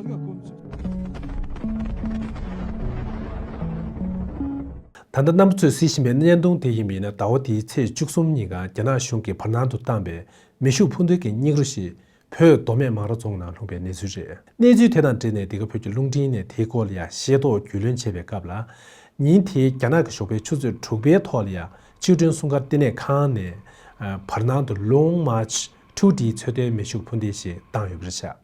ད་ལྟ་གནམ་བུ་ཚོས་བཟི་བཞིན་པའི་བརྙན་ཐུང་དེ་ཡིན་པ་ཡིན་ན་ཟླ་བ་འདིའི་ཚེས་བཅུ་གསུམ་ཉིན་གང་རྒྱ་ནག་གཞུང་གིས་བར་སྣང་དུ་བཏང་པའི་མེ་ཤུགས་འཕུར་མདེལ་གྱི་སྙིགས་རོ་ཞིག་བོད་མདོ་སྨད་མང་ར་རྫོང་ནང་ལྷུང་པའི་གནས་ཚུལ་རེད། གནས་ཚུལ་དེ་དང་འབྲེལ་ནས་འདི་ག་བོད་ཀྱི་རླུང་འཕྲིན་ནས་དེའི་སྐོར་ལ་ཡང་ཤེས་རྟོགས་རྒྱུས་ལོན་བྱས་པའི་སྐབས་ལ། ཉིན་དེའི་རྒྱ་ནག་གི་ཞོགས་པའི་ཆུ་ཚོད་དྲུག་པའི་ཐོག་ལ་ཡང་ཆིའུ་ཀྲུང་སྲུང་སྐར་ལྟེ་གནས་ཁང་ནས་བར་སྣང་དུ Long March Two Dའི་ཚོད་ལྟའི་མེ་ཤུགས་འཕུར་མདེལ་ཞིག་བཏང་ཡོད་པ་རེད།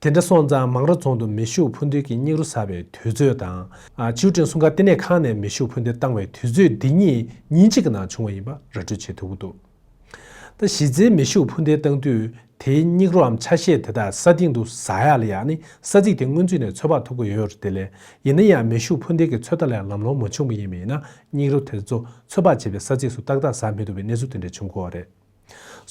དེ་འདྲ་སོང་ཙང་མང་ར་རྫོང་དུ་མེ་ཤུགས་འཕུར་མདེལ་གྱི་སྙིགས་རོ་ཟ་བའི་དུས་ཚོད་དང། ཆིའུ་ཀྲིན་སྲུང་སྐར་ལྟེ་གནས་ཁང་ནས་མེ་ཤུགས་འཕུར་མདེལ་བཏང་བའི་དུས་ཚོད་འདི་གཉིས་ཉིན་གཅིག་གི་ནང་བྱུང་བ་ཡིན་པ་ར་སྤྲོད་བྱེད་ཐུབ་ཀྱི་འདུག་ད་གཞི་རྩའི་མེ་ཤུགས་འཕུར་མདེལ་བཏང་དུས་དེའི་སྙིགས་རོའམ་ཆ་ཤས་དེ་དག་ས་སྟེང་དུ་ཟ་ཡག་ལ་ཡག་ནི་ས་ཚིགས་དེ་སྔོན་ཚུད་ནས་ཚོད་དཔག་ཐུབ་ཀྱི་ཡོད་དེ་ལས་ཡིན་ན་ཡང་མེ་ཤུགས་འཕུར་མདེལ་གྱི་ཚོད་ལྟ་ལས་ལམ་ལྷོང་མ་བྱུང་བ་ཡིན་མིན་ན་སྙིགས་རོ་དེ་ཚོ་ཚོད་དཔག་བྱེད་པའི་ས་ཚིགས་སུ་ཏག་ཏག་ཟ་མི་ཐུབ་པའི་གནས་ཚུལ་དེ་འདྲ་བྱུང་དགོས་པ་རེད།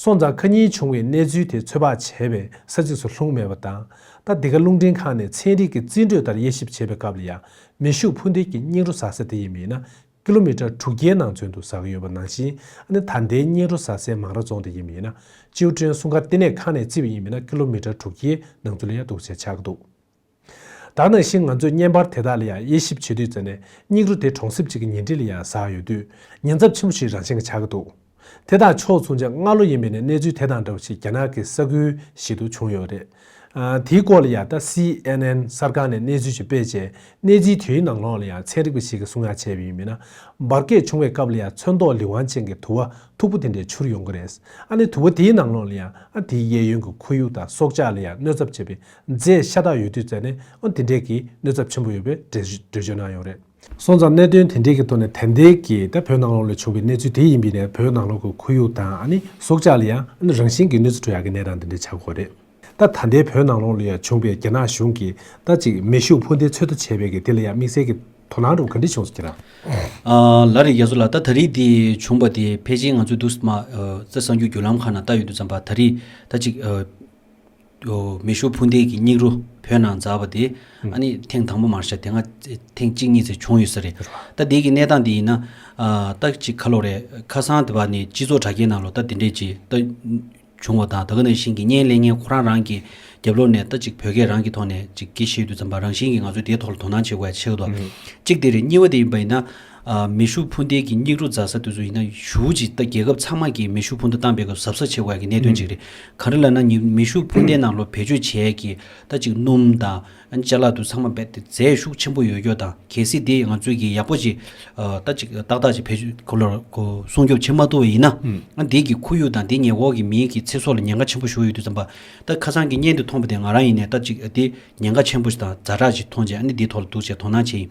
སོ་མཛའ་མཁའ་གཉིས་བྱུང་བའི་གནས་ཚུལ་དེ་ཚོད་དཔག་བྱས་པའི་ས་ཚིགས་སུ་ལྷུང་མེད་པ་དང། ད་འདི་ག་རླུང་འཕྲིན་ཁང་ནས་ཚན་རིག་གི་རྩིས་འགྲོས་ལྟར་དབྱེ་ཞིབ་བྱེད་པའི་སྐབས་ལ་ཡང་མེ་ཤུགས་འཕུར་མདེལ་གྱི་སྙིགས་རོ་ཟ་ས་དེ་ཡིན་མིན་ན་ཀི་ལོ་མི་ཀྲར་དྲུག་བརྒྱའི་ནང་ཚུན་དུ་ཟགས་ཡོད་པ་ནང་བཞིན་ནི་ད་ལྟའི་སྙིགས་རོ་ཟ་སའི་མང་ར་རྫོང་དེ་ཡིན་མིན་ན་ཅིའུ་ཀྲེན་སྲུང་སྐར་ལྟེ་གནས་ཁང་ནས་རྩིས་པ་ཡིན་མིན་ན་ཀི་ལོ་མི་ཀྲར་དྲུག་བརྒྱའི་ནང་ཚུན་ལ་ཡང་འདུག་ཅེས་ཆགས་འདུག། ད་ནང་བཞིན་ང་ཚོས་བརྙན་པར་དེ་དག་ལ་ཡང་དབྱེ་ཞིབ་བྱེད་དུས་ཙནྡན་སྙིགས་རོ་དེ་གྲོང་གསེབ་ཅིག་གི་ཉེ་འཁྲིས་ལ་ཡང་ཟགས་ཡོད་དུས་ཉེན་ཚབས་ཆེན་པོ་ཞིག་རང་བཞིན་གྱིས་ཆགས་ཀྱི་འདུག་དེ་དང་ཕྱོགས་མཚུངས་ཆ་ལྔ་ལོ་ཡིན་པའི་ནས་གནས་ཚུལ་དེ་དང་འདྲ་བ་ཞིག་རྒྱ་ནག་གི་ས་ཁུལ་ཞིག་ཏུ་བྱུང་ཡོད་པ་རེད། དེའི་སྐོར་ལ་ཡང་ད་སི་ཨན་ཨན་གསར་ཁང་ནས་གནས་ཚུལ་ཞིག་སྤེལ་རྗེས་གནས་ཚུལ་དེའི་ནང་ལོགས་ལ་ཡང་ཚན་རིག་པ་ཞིག་གིས་གསུང་ཡ་བྱས་པ་ཡིན་མིན་ན། འབར་གས་བྱུང་བའི་སྐབས་ལ་ཡང་ཚོན་མདོག་ལི་ཝང་ཅན་གྱི་དུ་བ་མཐུག་པོ་དེ་འདྲས་འཕྱུར་ཡོང་གི་རེད། ཨ་ནི་དུ་བ་དེའི་ནང་ལོགས་ལ་ཡང་ཨ་དེའི་གཡས་གཡོན་གྱི་ཁོར་ཡུག་དང་སྲོག་ཆགས་ལ་ཡང་གནོད་ཚབས་ཆེ་བའི་རྫས་ཤ་སྟག་ཡོད་དུས་བཙལ་ནས་དེ་འབྲེལ་གྱི་གནོད་ཚབས་ཆེན་པོ་ཡོད་པའི་འགྲེལ་བརྗོད་གནང་ཡོད་རེད། སོང་ཙང་གནད་དོན་དེ་འབྲེལ་གྱི་ཐོག་ནས་ཐན་ཏེ་གིས་བོད་ནང་ལོགས་ལས་བྱུང་བའི་གནས་ཚུལ་དེ་ཡིན་པས་ནས་བོད་ནང་ལོགས་ཀྱི་ཁོར་ཡུག་དང་སྲོག་ཆགས་ལ་ཡང་རང་བཞིན་གྱི་གནོད་འཚེ་འགྲོ་ཡག་གི་ནས་རང་དེ་འདྲས་བྱ་དགོས་རེད། ད་ཐན་ཏེ་བོད་ནང་ལོགས་ལ་ཡང་བྱུང་བས་རྒྱ་ནག་གཞུང་གིས་ད་ཅིག་མེ་ཤུགས་འཕུར་མདེལ་ཚོད་ལྟ་བྱས་བས་ཀྱི་དེ་ལ་ཡང་དམིགས་བསལ་གྱི་དོ་སྣང་རུ་ག་འདྲི་བྱུང་སོ་ཁྱེད་རང། ལ་རེ་རྒྱ་མཚོ་ལ་ད་ད་རིས་དེ་བྱུང་བ་དེ་ཕལ་ཆེན་ང་ཚོའི་དུག་སྨག་རྩེ་གསང་རྒྱུའི་བརྒྱུད་ལམ་ཁག་ནང་ལྟ་ཡོད་དུས་ཙམ་པ་ད་རིས་ད་ཅིག། མེ་ཤུགས་འཕུར་མདེལ་གྱི་སྙིགས་རོ་བོད་ནང་འཛགས་པ་དེ་ཨ་ནི་ཐེངས་དང་པོ་མར་ཤ་དེ་སྔ་ཐེངས་གཅིག་གཉིས་ཚེ་བྱུང་ཡོད་ས་རེད་ད་འདིའི་གི་གནས་སྟངས་འདི་ཡིན་ན་ད་ཅིག་ཁ་ལོ་རེད་ཁ་སང་དེ་བ་ནི་སྤྱི་ཚོགས་དྲ་རྒྱའི་ནང་ལོ་ད་འདི་འདྲས་ཅིག་ད་བྱུང་བ་དང་ད་ག་ནང་བཞིན་གི་བརྙན་ལེན་བརྙན་ཁོ་རང་རང་གི་རྒྱབ་ལོག་ནས་ད་ཅིག་བོད་སྐད་རང་གི་ཐོག་ནས་ཅིག་སྐད་བཤད་དུས་ཙམ་པ་རང་བཞིན་གི་ང་ཚོས་དེའི་ཐོག་ལ་དོ་སྣང་བྱེད་དགོས་ཡ་ཆེ་གི་དོ་གཅིག་དེ་རེད་གཉིས་བ་དེ་ཡིན་པ་ཡིན་ན། མེ་ཤུགས་འཕུར་མདེལ་གྱི་སྙིགས་རོ་རྫ་ས་དེ་ཚོ་ཡིན་ན་ཞུའུ་ཅི་རྒྱལ་ཁབ་ཚང་མ་གིས་མེ་ཤུགས་འཕུར་མདའ་བཏང་པའི་སྐབས་གཟབ་གཟབ་བྱེད་དགོས་ཡག་གི་གནད་དོན་གཅིག་རེད། ག་རེ་ལ་ན་ཉི་མེ་ཤུགས་འཕུར་མདའི་ནང་ལོ་བེད་སྤྱོད་བྱས་ཀྱི་ད་ཅིག་སྣུམ་དང། ལྕེ་ལག་དུ་ཚང་མ་རྦད་དེ་རྫས་ཤུགས་ཆེན་པོ་ཡོད་སྐྱོ་དང་གལ་སྲིད་དེ་ང་ཚོས་ཀྱི་ཡག་པོ་ཅིག་ད་ཅིག་ཏག་ཏག་ཅིག་བེད་སྤྱོད་གོ་ལོར་གོ་སྲུང་སྐྱོབ་བྱེད་མ་ཐུབ་པ་ཡིན་ན། དེས་ཀྱི་ཁོར་ཡུག་དང་དེ་ཉེ་འོག་གི་མིའི་གི་ཚེ་སྲོག་ལ་ཉེན་ཁ་ཆེན་པོ་ཞུགས་ཡོད་དུས་ཙམ་པ་ད་ཁ་སང་གི་བརྙན་དེ་མཐོང་པ་དེ་ང་རང་ཡིན་ནས་ད་ཅིག་དེ་ཉེན་ཁ་ཆེན་པོ་ཞིག་དང་རྫ་དྲག་ཅིག་མཐོང་རྗེས་ཨ་ནི་དེའི་ཐོག་ལ་འདུག་བྱས་དོ་སྣང་བྱས་ཡིན།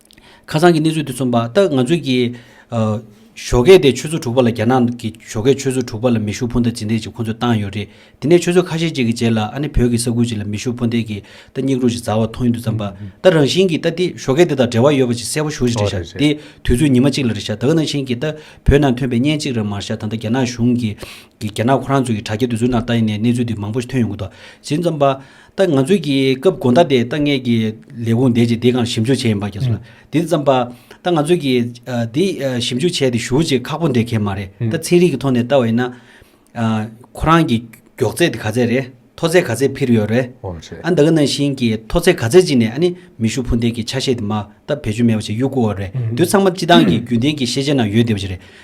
ཁ་སང་གི་གནས་ཚུལ་དེ་མཚོན་པ་ལྟར་ང་ཚོས་ཀྱི། བཞོ་གས་དེ་ཆུ་ཚོད་དྲུག་པ་ལ་རྒྱ་ནག་གི་བཞོ་གས་ཆུ་ཚོད་དྲུག་པ་ལ་མེ་ཤུགས་འཕུར་མདའ་ཇི་འདེད་ཅིག་ཁོ་ཚོས་བཏང་ཡོད་རེད། དེ་ནས་ཆུ་ཚོད་ཁ་ཤས་ཅིག་གི་རྗེས་ལ་ཨ་ནི་བོད་ཀྱི་ས་ཁུལ་ཅིག་ལ་མེ་ཤུགས་འཕུར་མདའི་གི་རྟ་སྙིགས་རོ་ཞིག་འཛར་བ་མཐོང་ཡུལ་དུ་བརྩམས་པ་ལྟར་རང་བཞིན་གྱི་རྟ་དེ་བཞོ་གས་དེ་དང་འབྲེལ་བ་ཡོད་པ་ཅིག་གསལ་བོ་ཞུ་ཞིག་རེད་ཤག་དེ་དུས་ཚོད་ཉི་མ་གཅིག་ལ་རེད་ཤག་ད་ག་ནང་བཞིན་གྱི་རྟ་བོད་ནང་ཐོན་པའི་བརྙན་གཅིག་རེར་མར་ཤག་ད་ལྟ་རྒྱ་ནག་གཞུང་གི། རྒྱ་ནག་ཁོ་རང་ཚོ་གི་དྲ་རྒྱ་དུས་ཚོད་ནང་རྟ་ཡིན་ནའི་གནས་ཚུལ་དེ་མང་པོ་ཞིག་ཐོན་ཡོང་གི་འདུག་ཇི་མཚམས་པ། ད་ང་ཚོས་ཀྱིས་སྐབས་དགོན་བདག་དེ་ད་ངེད་ཀྱིས་ལས་ཁུངས་འདེད་ཅིག་འདི་གང་ཞིབ་འཇུག་བྱས་ཡིན་པ་རྒྱལ་སོང། དེ་ཙམ་པ། ད་ང་ཚོས་ཀྱིས་འདི་ཞིབ་འཇུག་བྱས་དེ་ཞུ་ཅིག་ཁག་པོ་འདེད་མཁན་མ་རེད། ད་ཚན་རིག་གི་ཐོག་ནས་བལྟ་བ་ཡིན་ན། ཁོ་རང་གི་མགྱོགས་ཚད་དེ་ག་ཚད་རེད། མཐོ་ཚད་ག་ཚད་ཕིར་ཡོད་རེད། ཨ་འདི་ག་ནང་བཞིན་གྱི་མཐོ་ཚད་ག་ཚད་ཅིག་ནས་ཨ་ནི་མི་ཤུགས་འཕུར་མདེལ་གྱི་ཆ་ཤས་དེ་མ་ད་བེད་སྤྱོད་མེད་པ་ཅིག་གཡུག་དགོས་བ་རེད། དུས་ཚང་མ་སྤྱི་བཏང་གི་རྒྱུན་ལྡན་གྱི་ཤེས་བྱེད་ནང་ཡོད་བསྡད་པ་ཅིག་རེད།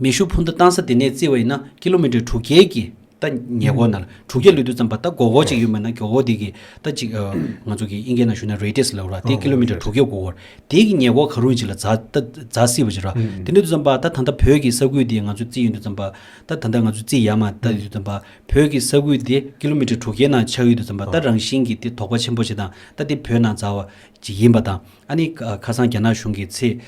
མེ་ཤུགས་འཕུར་མདའ་བཏང་ས་དེ་ནས་བརྩིས་བ་ཡིན་ན་ཀི་ལོ་མི་ཀྲེར་དྲུག་བརྒྱད་ཀྱི་རྟ་ཉལ་གོ་ན་ལ་དྲུག་བརྒྱད་ལུས་སྟོད་ཙམ་པ་རྟ་མགོ་བོ་གཅིག་ཡོད་མེད་ན་གོ་བོ་དེ་གི་རྟ་གཅིག་ང་ཚོ་གི་དབྱིན་སྐད་ནང་ཞུ་ན Radius ལབ་ར་དེ་ཀི་ལོ་མི་ཀྲེར་དྲུག་བརྒྱད་གོ་བོར་དེ་གི་ཉལ་གོ་ག་རུང་ཅིག་ལ་རྫ་རྫ་སྲིད་པ་ཅིག་ར་དེ་ནས་དུ་ཙམ་པ་ད་ད་ལྟ་བོད་ཀྱི་ས་ཁུལ་དེ་ང་ཚོ་བརྩིས་ཡོད་དུ་ཙམ་པ་ད་ད་ལྟ་ང་ཚོ་བརྩིས་ཡ་མ་ད་དུ་ཙམ་པ་བོད་ཀྱི་ས་ཁུལ་དེ་ཀི་ལོ་མི་ཀྲེར་དྲུག་བརྒྱད་ནང་ཆགས་ཡོད་དུ་ཙམ་པ་ད་རང་བཞིན་གྱི་དེ་དོག་པ་ཆེན་པོ་ཅིག་དང་ད་དེ་བོད་ནང་རྫ་བ་ཅིག་ཡིན་པ་དང། ཨ་ནི་ཁ་སང་རྒྱ་ནག་གཞུང་གིས་ཚེས་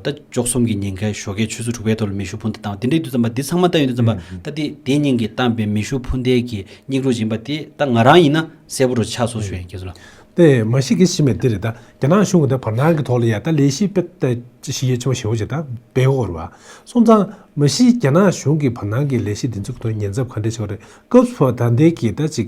ད་བཅོ་གསུམ་གྱི་ཉིན་ཁའི་ཞོགས་ཀའི་ཆུ་ཚོད་དྲུག་པའི་ཐོག་ལ་མེ་ཤུགས་འཕུར་མདའ་བཏང་བ་དེ་འདྲའི་དུས་བརྩམས་པ་འདི་ཚང་མ་ད་ཡོད་དུ་བརྩམས་པ་ད་དེ་དེ་སྙིང་གིས་བཏང་པའི་མེ་ཤུགས་འཕུར་མདའི་གི་སྙིགས་རོ་སྦྱིན་པ་དེ་ད་ང་རང་ཡིན་ན་གསལ་པོ་རུ་ཆགས་སོང་ཞུ་ཡིན་ཁྱེད་ཚོ་ལ། དེ་མ་ཤི་གི་ཤི་མེད་དེ་རེད་ད་རྒྱ་ནག་གཞུང་གི་ད་བར་སྣང་གི་ཐོག་ལ་ཡ་ད་ལས་ཤི་བེད་ད་ཅི་ཤི་ཡས་ཆེན་པོ་ཞེ་བོ་ཅིག་ད་བེད་ཧོར་བ་སོང་ཙང་མ་ཤི་རྒྱ་ནག་གཞུང་གི་བར་སྣང་གི་ལས་ཤི་འདི་ཚོ་གི་ཐོག་ཉེན་ཚབ་ག་འདྲས་ཆེ་བ་རེད་སྐབས་སུ་བ་ད་འདས་གི་ད་ཅིག་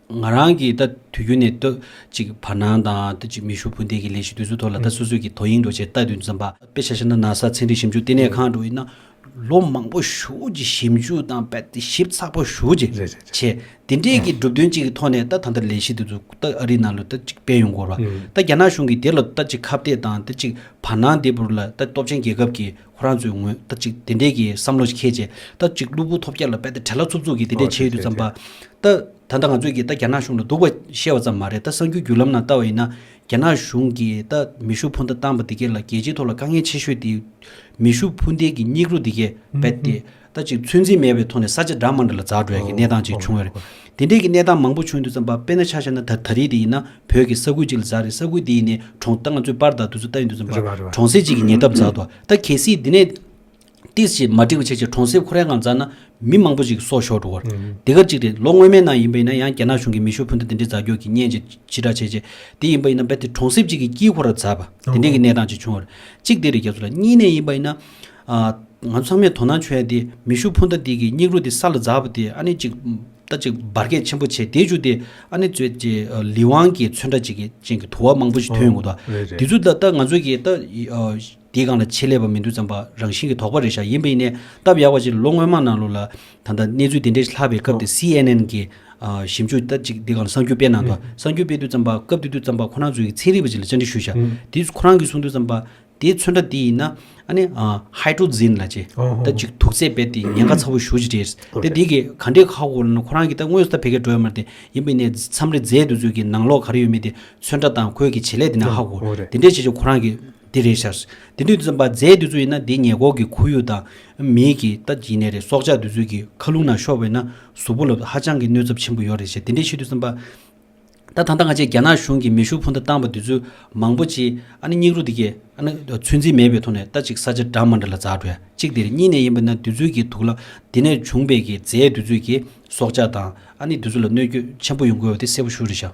ང་རང་གིས་ད་དུས་རྒྱུན་ནས་ལྟོས་ཅིག་བར་སྣང་དང་ལྟོས་ཅིག་མི་ཤུགས་སྤུན་ཟླའི་གི་ལས་གཞི་དུས་ཚོད་ཐོག་ལ་ད་སོ་སོས་གི་དོ་དབྱིངས་འགྲོ་ཆེད་ལྟ་དུས་འཛོམས་པ། དཔེ་ཆ་ཤེ་ན་ན་ས་ཚན་རིག་ཞིབ་འཇུག་ལྟེ་གནས་ཁང་དུ་ཡིན་ན་ལོ་མང་པོ་ཞུགས་ཀྱི་ཞིབ་འཇུག་དང་དཔེ་ཞིབ་ཚགས་པོ་ཞུགས་ཀྱི་རེད་རེད་རེད་བྱས་དེ་འདྲའི་གི་གྲུབ་དོན་གཅིག་གི་ཐོག་ནས་ད་ད་ལྟ་ལས་གཞི་དེ་ཚོ་ད་ཨ་རིའི་ནང་ལོ་ད་ཅིག་སྤེལ་ཡོང་དགོས་ར་ད་རྒྱ་ནག་གཞུང་གིས་དེ་ལོ་ད་ཅིག་ཁ་བརྡས་དང་ད་ཅིག་བར་སྣང་དེ་བུར་ལ་ད་སྟོབས་ཆེན་རྒྱལ་ཁབ་ཀྱི་ཁོ་རང་ཚོའི་ངོས་སྟབས་ཅིག་དེ་འདྲས་ཀྱི་བསམ་བློ་ཞིག་ཁེལ་རྗེས། སྟབས་ཅིག་གློ་བུར་ཐོབ་རྒྱ་ལ་འབད་དེ་བྲེལ་ལྷ་འཚུབ་འཚུབ་ཀྱིས་དེ་འདྲས་བྱེད་ཡུལ་དུ་བརྩམས་པ། ད། ད་ལྟ་ང་ཚོས་ཀྱིས་ད་རྒྱ་ནག་གཞུང་ལ་སྡུག་པ་བཤད་བ་ཙམ་མ་རེད་ད་གསར་འགྱུར་བརྒྱུད་ལམ་ནང་བལྟ་བ་ཡིན་ན། རྒྱ་ནག་གཞུང་གིས་ད་མེ་ཤུགས་འཕུར་མདའ་བཏང་པ་འདི་གས་ལ་རྒྱལ་སྤྱིའི་ཐོག་ལ་དཀའ་ངལ་ཆེ་ཤོས་དེ། མེ་ཤུགས་འཕུར་མདའི་གྱི་སྙིགས་རོ་འདི་གས་རྦད་དེ། ལྟ་ཅིག་ཚོད་འཛིན་མེད་པའི་ཐོག་ནས་ས་ཆ་འདྲ་མང་འདྲ་ལ་འཛག་འགྲོ་ཡ་གི་གནས་སྟངས་ཅིག་བྱུང་བས་རེད། དེ་འདྲས་ཀྱི་གནས་སྟངས་མང་པོ་བྱུང་འདུག་བསམ་པ་དཔེ་ན་ཆ་ཤ་ན་ད་ད་རེས་དེ་ཡིན་ན་བོད་ཀྱི་ས་ཁུལ་ཅིག་ལ་འཛག་རེད་ས་ཁུལ་དེ་ཡིན་ནས་གྲོང་ད་ང་ཚོས་པར་དང་དུས་ཚོད་ལྟ་ཡིན་འདུག་བསམ་པ་གྲོང་གསེབ་ཅིག་གི་ཉེ་འདབས་འཛག་འདུག་ད་གལ་སྲིད་དེ་ནས། ཏིས་ཞེས་མ་འགྲིག་པ་ཆེ་ཆེ་གྲོང་གསེབ་ཁོ་རའི་ངང་འཛག་ན་མི་མང་པོ་ཅིག་གི་སྲོག་ཤོར་འགྲོ་བར། དེ་སྐབས་ཅིག་རེད་ལོ་སྔོན་མའི་ནང་ཡིན་པ་ཡིན་ན་ཡང་རྒྱ་ནག་གཞུང་གིས་མི་ཤོར་ཕུ་མདའ་དེ་འདྲས་འཛག་རྒྱོག་གི་བརྙན་ཅིག་ཕྱི་བསྒྲགས་བྱས་རྗེས་དེ་ཡིན་པ་ཡིན་ན་རྦད་དེ་གྲོང་གསེབ་ཅིག་གི་དཀྱིལ་འཁོར་ར་འཛག་པ་དེ་འདྲས་ཀྱི་གནས་སྟངས་ཅིག་བྱུང་བ་རེད། གཅིག་དེ་རེད་རྒྱ་མཚོ་ལགས་གཉིས་ནས་ཡིན་པ་ཡིན་ན། ང་ཚོ་ཚང་མས་དོ་སྣང་བྱོས་ཡ་དེ་མེ་ཤུགས་འཕུར་མདའ་དེ་གི་སྙིགས་རོ་དེ་ས་ལ་འཛག་པ་དེ་ཨ་ནི་ཅིག་ད་ཅིག་འབར་གས་ཆེན་པོ་བྱས་དེ་ཅུ་དེ་ཨ་ནི་ཚོད་ཅེ་ལི་ཝང་གི་ཚོད་འདྲ་ཅིག་ཅན་གི་དུ་བ་མང་པོ་ཞིག་ཐོན་ཡོང་གི་འདུག་རེད་རེད་དེ་ཚོ་ད་ད་ང་ཚོ་གི་ད་དེ་གང་ལ་ཆེད་ལས་པ་མི་འདུག་ཙམ་པ་རང་བཞིན་གི་དོགས་པ་རེད་ཤག་ཡིན་པ་ཡིན་ནས་སྟབས་ཡག་པ་ཅིག་ལོ་སྔོན་མ་ནང་ལོ་ལ་ད་ད་གནས་ཚུལ་དེ་འདྲ་ཞིག་ལྷག་པའི་སྐབས་དེ་སི་ཨེན་ཨེན་གི་ཞིབ་འཇུག་ད་ཅིག་དེ་གང་ལ་གསང་རྒྱུ་སྤེལ་གནང་འདུག་གསང་རྒྱུ་སྤེལ་དུས་ཙམ་པ་སྐབས་དེ་དུས་ཙམ་པ་ཁོ་རང་ཚོའི་ཚན་རིག་པ་ཅིག་ལ་བཅར་འདྲི་ཞུས་ཤག་དེ་ཚོ་ཁོ་རང་གིས་གསུང་དུས་ཙམ་པ། དེའི་མཚོན་ཕྲ་དེ་ཡིན་ན། Hydrogen། ལ་ཅི། ད་ཅིག་དུག་རྫས་རྦད་དེ་ཉེན་ཁ་ཚ་བོ་ཞུ་བཞིན་རེད། དེ་དེ་གི་ག་འདྲའི་ཁག་པོ་ལ་ཁོ་རང་གི་ད་དངོས་སུ་ད་བད་ཀན་འགྲོ་ཡ་མ་རེད་དེ། ཡིན་པའི་ནས་མཚམས་རེ་རྫས་དུ་ཚོད་ཀྱི་ནང་ལོག་ག་རེ་ཡོད་མེད་དེ་མཚོན་ཕྲ་དང་ཁོས་གི་བྱེད་ལས་དེ་ན་ཧ་གོ། དེ་འདྲས་བྱེད་ཆོག་ཁོ་རང་གི་དེ་རེད་ཤར། དེ་དུས་འཛམ་པ་རྫས་དུ་ཚོད་ཡིན་ན་དེའི་ཉེ་འཁོར་གི་ཁོར་ཡུག་དང། མིའི་གི་ད་ཅིག་ནས་རེད་སྲོག་ཆགས་དུ་ཚོད་ཀྱི་ཁ་རླུང་ན་ཤོར་བས་ན་གཟུགས་པོ་ལ་ཧ་ཅང་གི་གནོད་ཚབ་ཆེན་པོ་ཡོད་རེད་ཤེ་དེ་འདྲས་བྱེད་དུས་འཛམ་པ། ད་ཐང་ཐང་ཁ་ཆེ་རྒྱ་ནག་གཞུང་གིས་མེ་ཤུགས་འཕུར་མདའ་བཏང་བ་དེ་ཚོས་མང་པོ་ཅི། ཨ་ནི་སྙིགས་རོ་འདི་གས། ཨ་ནི། ཚོད་འཛིན་མེད་པའི་ཐོག་ནས་ལྟ་ཅིག་ས་ཆ་འདྲ་མ་འདྲ་ལ་འཛག་གྲོལ་གཅིག་དེ་རེད་གཉིས་ནས་ཡིན་པ་ན་དུས་ཚོད་ཀྱི་དུག་ལ། དེ་ནས་བྱུང་བས་ཀྱི་རྫས་དུས་ཚོད་ཀྱི། སྲོག་ཆགས་དང། ཨ་ནི་དུས་ཚོད་ལ་གནོད་སྐྱོད་ཆེན་པོ་ཡོང་དགོས་བ་དེ་གསལ་པོ་ཞུ་རེ་བཞག།